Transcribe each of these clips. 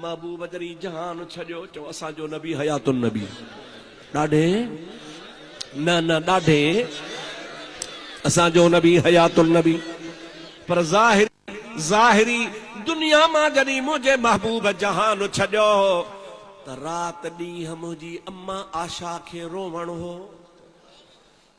محبوب جري جهان ڇڏيو چئو اسان جو نبي حيات النبي ڏاڍي نه نه ڏاڍي اسان جو نبي حيات النبي پر ظاهر ظاهري دنيا مان جڏهن منهنجي محبوب جهان ڇڏيو هو ته رات ڏينهن منهنجي امان عاشا کي روئڻ هو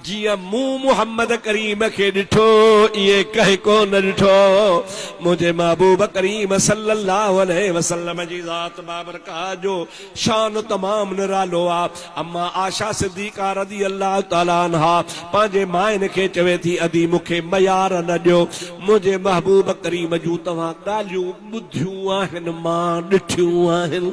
جيئن مون محمد ڪريم کي ڏٺو ائين ڪنهن ڪو نه ڏٺو منهنجي محبوب ڪريم صلّي الله عليه وسلّم جي ذات بابرڪات جو شان تمام نرالو آ اما عائشه صديقه رضي الله تعالٰي عنها پنهنجي ماين کي چوي ٿي ادي مون کي ميار نه ڏيو منهنجي محبوب ڪريم جون توهان ڳالهيون ٻڌيون آهن مان ڏٺيون آهن.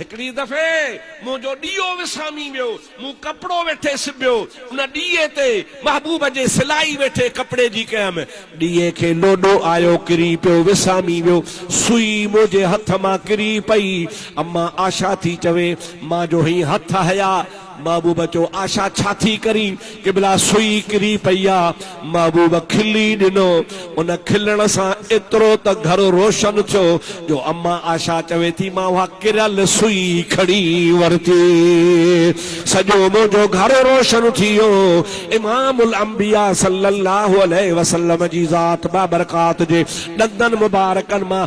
هڪڙي دفعي منهنجو ڏيئو وسامي ويو، مون ڪپڙو ويٺي سبيو، ان ڏيئي تي محبوب جي سلائي ويٺي ڪپڙي جي ڪيم، ڏيئي کي لوڏو آيو، ڪري پيو، وسامي ويو، سوئي منهنجي هٿ مان ڪري پئي، امان آشا ٿي چوي، مان جو هئين هٿ هيا. محبوب چيو، آشا ڇا ٿي ڪرين؟ قبلا سوئي ڪري پئي آ. محبوب کلي ڏنو. ان کلڻ سان ايترو ته گهر روشن ٿيو جو اما آشا چوي ٿي، مان اها ڪريل سوئي کڻي ورتي. سڄو منهنجو گهر روشن ٿي ويو. امام الانبياء صلّي اللّٰه عليه وسلّم جي ذات بابرڪات جي ڏندن مبارڪن مان